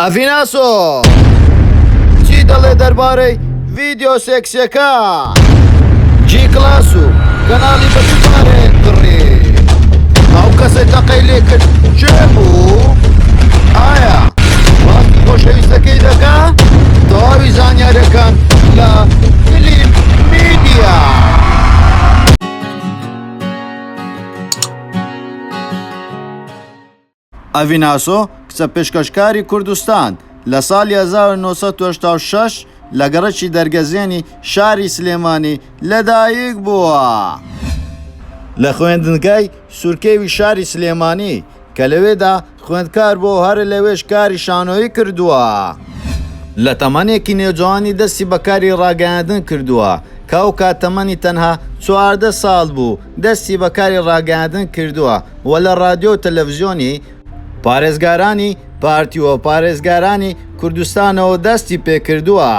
ئەڤیناسۆ چی دەڵێ دەربارەی ڤیددیو سێکسەکە جی کلاس و گەناڵی بەشارێ کڕی ئەو کەسێک تەقەی لێ کرد چێ بوو ئایا وەختی خۆشەویستەکەی دەکە تەواوی زانیارەکان لە فلیم میدیا. ئەڤین ئاسۆ، کچە پێشکەشکاری کوردستان، لە ساڵی هەزار و نۆ سەد و هەشتا و شەش لە گەڕەکی دەرگەزێنی شاری سلێمانی لەدایک بووە، لە خوێندنگای سورکێوی شاری سلێمانی کە لەوێدا خوێندکار بووە و هەر لەوێش کاری شانۆیی کردووە. لە تەمەنێکی نێوجەوانی دەستی بە کاری ڕاگەیاندن کردووە کە ئەو کات تەمەنی تەنها چواردە ساڵ بوو، دەستی بە کاری ڕاگەیاندن کردووە و لە ڕادیۆ و تەلەڤزیۆنی پارێزگارانی پارتی و پارێزگارانی کوردستانەوە دەستی پێکردووە،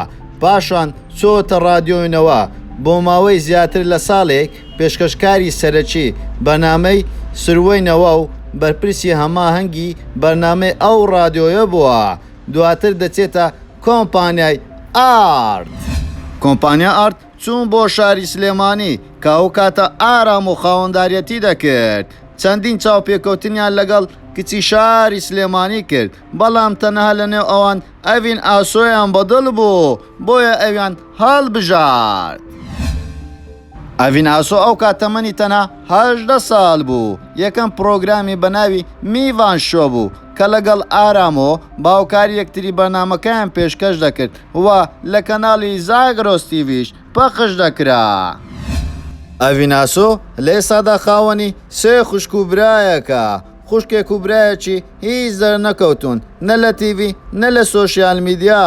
پاشان چووەتە ڕادیۆی نەوا، بۆ ماوەی زیاتر لە ساڵێک پێشکەشکاری سەرەکی بەرنامەی سروەی نەوا و بەرپرسی هەماهەنگی بەرنامەی ئەو ڕادیۆیە بووە، دواتر دەچێتە کۆمپانیای ئارت. کۆمپانیا ئارت چووم بۆ شاری سلێمانی کە ئەو کاتە ئارام و خاوەنداریەتی دەکرد، چەندین چاوپێکەوتنیان لەگەڵ کچی شاری سلێمانی کرد، بەڵام تەنها لەنێو ئەوان ئەڤین ئاسۆیان بەدڵ بوو، بۆیە ئەویان هەڵبژارد. ئەڤین ئاسۆ ئەو کات تەمەنی تەنها هەژدە ساڵ بوو، یەکەم پڕۆگرامی بەناوی میڤان شۆ بوو، کە لەگەڵ ئارام و باوکار یەکتری بەرنامەکەیان پێشکەش دەکرد و لە کەناڵی زاگرۆس تیڤیش پەخش دەکرا. ئەڤیناسۆ لە ئێستادا خاوەنی سێ خوشک و برایەکە، خوشکێک و برایەکی هیچ دەرنەکەوتوون نە لە تیڤی نە لە سۆشیال میدیا،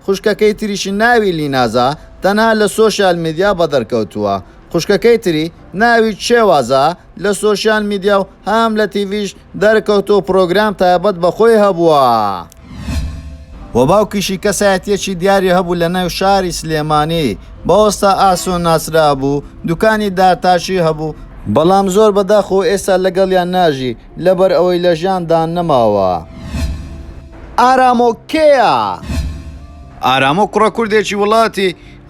خوشکەکەی تریشی ناوی لینازە تەنها لە سۆشیال میدیا بەدەرکەوتووە، خوشکەکەی تری ناوی چێوازە لە سۆشیال میدیا و هەم لە تیڤیش دەرکەوتوو پرۆگرام تایبەت بە خۆی هەبووە. و باوکیشی کەسایەتیەکی دیاری هەبوو لە ناو شاری سلێمانی بە ئۆستا ئاسۆ ناسرابوو دوکانی دارتاشی هەبوو، بەڵام زۆر بە داخەوە ئێستا لەگەڵیان ناژی لە بەر ئەوەی لە ژیان دا نەماوە. ئارامۆ کێیە؟ ئارامۆ کوڕە کوردێکی وڵاتی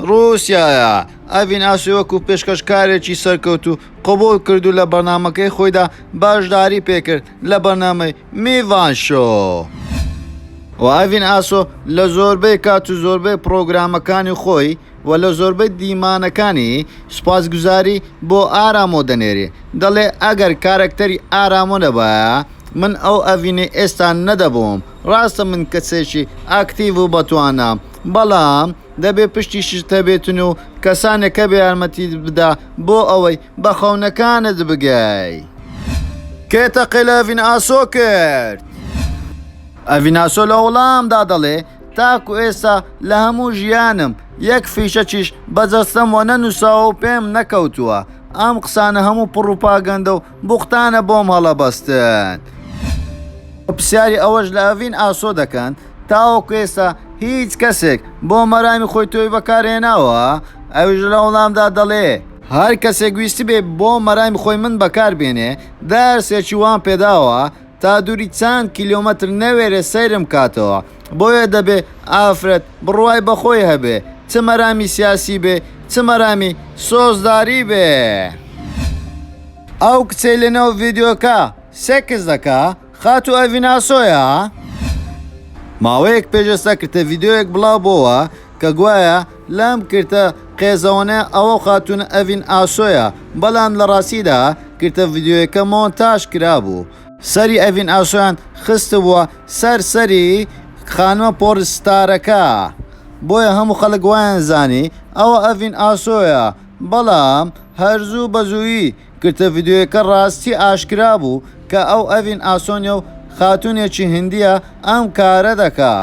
روسیایە، ئەڤین ئاسۆی وەکوو پێشکەشکارێکی سەرکەوتوو، قبوڵ کرد و لە بەرنامەکەی خۆیدا بەشداری پێکرد لە بەرنامەی میڤان شۆو. و ئایڤین ئاسۆ لە زۆربەی کات و زۆربەی پڕۆگرامەکانی خۆی و لە زۆربەی دیمانەکانی سوپاسگوزاری بۆ ئارامۆ دەنێری دەڵێ ئەگەر کارەکتەری ئارامۆ نەبایە من ئەو ئەڤینەی ئێستا نەدەبووم ڕاستە من کەسێکی ئاکتیڤ و بەتوانام بەڵام دەبێ پشتیشت هەبێتن و کەسانێک هەبێ یارمەتیت بدا بۆ ئەوەی بە خەونەکانت بگەی. کێ تەقەی لە ئەڤین ئاسۆ کرد؟ ئەڤین ئاسۆ لە وڵامدا دەڵێ، تاکو ئێستا لە هەموو ژیانم یەک فیشەکیش بە جەستەمەوە نەنووساوە و پێم نەکەوتووە. ئەم قسانە هەموو پڕوپاگەندە و بوختانە بۆم هەڵەبەستن. پرسیاری ئەوەش لە ئەڤین ئاسۆ دەکەن، تاوەکو ئێستا هیچ کەسێک بۆ مەرامی خۆی تۆوی بەکارهێناوە؟ ئەویش لە وەڵامدا دەڵێ، هەر کەسێک ویستبێ بۆ مەرامی خۆی من بەکاربێنێ دەرسێکی وام پێداوە، تا دووری چەند کیلۆمەتر نەوێرێ سەیرم کاتەوە، بۆیە دەبێ ئافرەت بڕوای بە خۆی هەبێ، چ مەرامی سیاسی بێ، چ مەرامی سۆزداری بێ. ئەو کچەی لە نێو ڤیدیۆکە سێکس دەکا خاتوو ئەڤیناسۆیە؟ ماوەیەک پێش ئێستا کرتە ڤیدیۆیەک بڵاو بۆوە کە گوایە لام کرتە قێزەوەنە ئەوە خاتوونە ئەڤین ئاسۆیە بەلام لە راستیدا کرتە ڤیدیۆیەکە مۆنتاژ کرابوو. سەری ئەڤین ئاسۆیان خستبووە سەر سەری خانمە پۆڕ ستارەکە بۆیە هەموو خەلک وایان زانی ئەوە ئەڤین ئاسۆیە بەڵام هەر زوو بەزوویی. گرتە ڤیدیۆیەکە ڕاستی ئاشکرا بوو کە ئەو ئەڤین ئاسۆنیە و خاتوونێکی هندییە ئەم کارە دەکا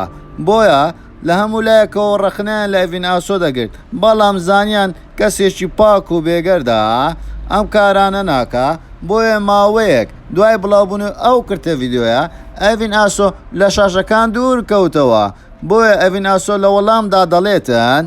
بۆیە لە هەموو لایەکەوە ڕەخنەیان لە ئەڤین ئاسۆ دەگرت بەڵام زانیان کەسێکی پاک و بێگەردە ئەم کارانە ناکا بۆیە ماوەیەک دوای بڵاوبوونەوەی ئەو کرتە ڤیدیۆیە ئەڤین ئاسۆ لە شاشەکان دوور کەوتەوە بۆیە ئەڤین ئاسۆ لە وەڵامدا دەڵێتن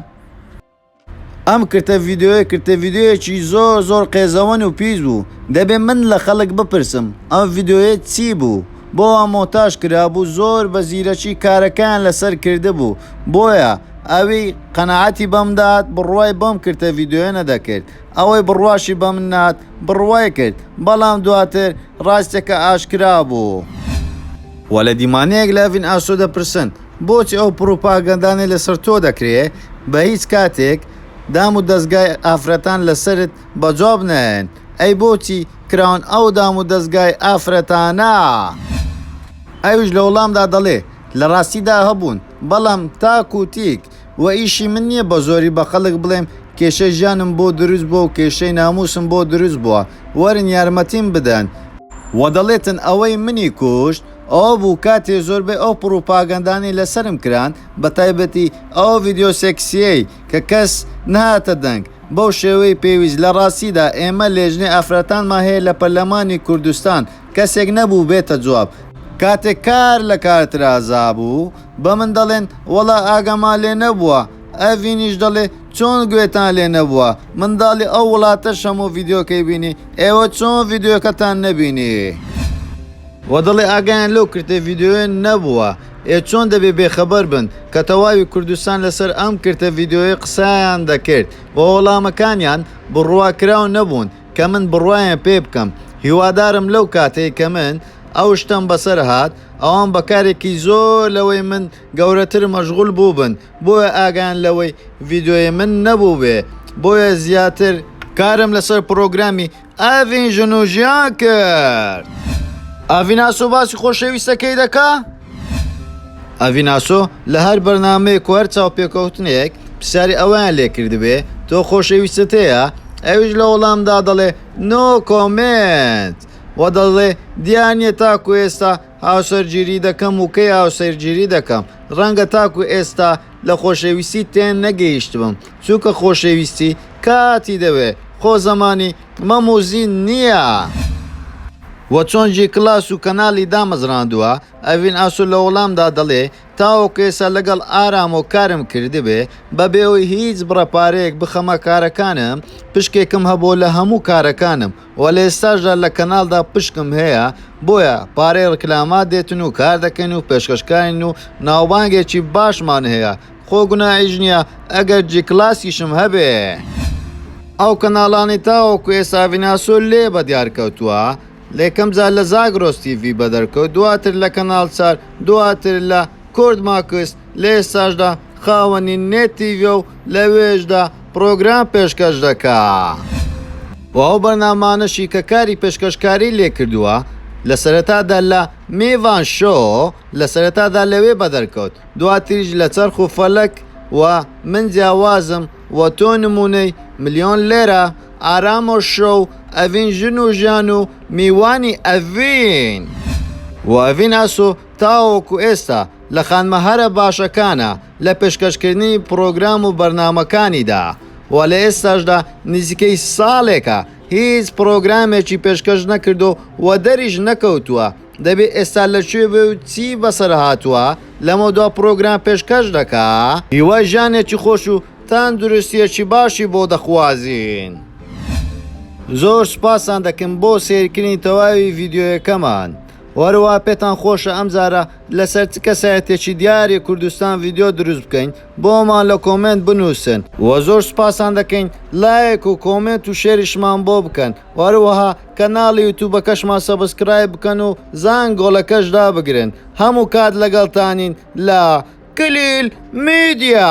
ئەم کرتە ڤیدیۆیە کرتە ڤیدیۆیەکی زۆر زۆر قێزەوەن و پیس بوو دەبێ من لە خەڵک بپرسم ئەم ڤیدیۆیە چی بوو بۆ وا مۆنتاژ کرابوو زۆر بە زیرەکی کارەکەیان لەسەر کردبوو بۆیە ئەوی قەناعەتی بەم دەهات بڕوای بەم کرتە ڤیدیۆیە نەدەکرد ئەوەی بڕواشی بەم نەهات بڕوای کرد بەڵام دواتر ڕاستەکە ئاشکرا بوو. وەلە دیمانەیەک لە ئەڤین ئاسۆ دەپرسن. بۆچی ئەو پڕوپاگەندانەی لەسەر تۆ دەکرێ بە هیچ کاتێک دام و دەزگای ئافرەتان لەسەرت بە جواب نایەن؟ ئەی بۆچی کراون ئەو دام و دەزگای ئافرەتانە؟ ئەویش لە وڵامدا دەڵێ، لە ڕاستیدا هەبوون، بەڵام تاک و تیک، و ئیشی من نییە بە زۆری بە خەڵک بڵێم کێشەی ژیانم بۆ دروست بووە و کێشەی نامووسم بۆ دروست بووە، وەرن یارمەتیم بدەن. و دەڵێتن ئەوەی منی کوشت. ئەوە بوو کاتێ زۆربەی ئەو پڕوپاگەندانەی لەسەرم کران بەتایبەتی ئەو ڤیدیۆ سێکسیەی کە کەس نەهاتە دەنگ بەو شێوەی پێویست لە ڕاستیدا ئێمە لێژنەی ئافرەتانمان هەیە لە پەرلەمانی کوردستان کەسێک نەبوو بێتە جواب کاتێ کار لە کار ترازابوو بەمن دەڵێن وەڵا ئاگامان لێ نەبووە ئەڤینیش دەڵێ چۆن گوێتان لێ نەبووە منداڵی ئەو وڵاتەش هەموو ڤیدیۆکەی بینی ئێوە چۆن ڤیدیۆکەتان نەبینی. وە دەڵێ ئاگایان لەو کرتە ڤیدیۆیە نەبووە ئێ چۆن دەبێ بێ خەبەر بن کە تەواوی کوردستان لەسەر ئەم کرتە ڤیدیۆیە قسەیان دەکرد وە وەڵامەکانیان بڕوا کراو نەبوون کە من بڕوایان پێ بکەم هیوادارم لەو کاتەی کە من ئەو شتەم بەسەر هات ئەوان بە کارێکی زۆر لەوەی من گەورەتر مەشغول بووبن بۆیە ئاگایان لەوەی ڤیدۆی من نەبووبێ بۆیە زیاتر کارم لەسەر پڕۆگرامی ئاڤین ژن و ژیان کرد. ئاڤیناسۆ باسی خۆشەویستەکەی دەکا؟ ئاڤیناسۆ لە هەر بەرنامەیەک و هەر چاوپێکەوتنێک پرسیاری ئەوەیان لێ کردبێ تۆ خۆشەویستت هەیە؟ ئەویش لە وەڵامدا دەڵێ نۆ کۆمێنت و دەڵێ دیار نییە تاکو ئێستا هاوسەرگیری دەکەم و کەی هاوسەرگیری دەکەم؟ ڕەنگە تاکو ئێستا لە خۆشەویستی تێنەگەیشتبم، چونکە خۆشەویستی کاتی دەوێ، خۆ زەمانی مەم و زین نییە. وە چۆن جی کلاس و کەنالی دامەزراندووە، ئەڤین ئاسۆ لە وەڵامدا دەڵێ، تاوەکو ئێستا لەگەڵ ئارامۆ کارم کردبێ، بەبێ ئەوەی هیچ بڕە پارەیەک بخەمە کارەکانم، پشکێکم هەبووە لە هەموو کارەکانم، وە لە ئێستاشدا لە کەناڵدا پشکم هەیە بۆیە پارەی ڕکلاما دێتن و کار دەکەین و پێشکەشکارین و ناوبانگێکی باشمان هەیە خۆ گوناحیش نییە ئەگەر جی کلاسیشم هەبێ. ئەو کەناڵانەی تاوەکو ئێستا ڤیناسۆ لێ بە دیار کەوتووە لە یەکەم جار لە زاگرۆس تیڤی بەدەر کەوت دواتر لە کەناڵ چار دواتر لە کورد ماکس، لە ئێستاشدا خاوەنی نێت تیڤیە و لەوێشدا پڕۆگرام پێشکەش دەکا و ئەو بەرنامانەشی کە کاری پێشکەشکاری لێ کردووە لە سەرەتادا لە، میڤان شۆ، لە سەرەتادا لەوێ بەدەرکەوت دواتریش لە، چەرخ و فەلەک، و، من جیاوازم، و، تۆ نموونەی، ملیۆن لێرە، ئارام و شۆ، و، ئەڤین ژن و ژیان، و، میوانی ئەڤین، و، ئەڤین ئاسۆ، تاوەکو ئێستا. لە خانمە هەرە باشەکانە لە پێشکەشکردنی پڕۆگرام و بەرنامەکانیدا و لە ئێستاشدا نزیکەی ساڵێکە هیچ پڕۆگرامێکی پێشکەش نەکردووە و دەریش نەکەوتووە، دەبێ ئێستا لە کوێ بێ و چی بەسەرهاتووە لەمەودوا پڕۆگرام پێشکەش دەکا؟ هیوای ژیانێکی خۆش و تەندروستییەکی باشی بۆ دەخوازین. زۆر سوپاستان دەکەم بۆ سەیرکردنی تەواوی ڤیدیۆیەکەمان. هەروا پێتان خۆشە ئەمجارە لەسەر چ کەسایەتیەکی دیاری کوردستان ڤیدیۆ دروست بکەین بۆمان لە کۆمێنت بنوسن. وە زۆر سوپاستان دەکەین لایک و کۆمێنت و شێریشمان بۆ بکەن وە هەروەها کەناڵی یوتوبەکەشمان سەبسکرایب بکەن و زانگۆڵەکەش دابگرن هەموو کات لەگەڵتانین لە کلیل میدیا.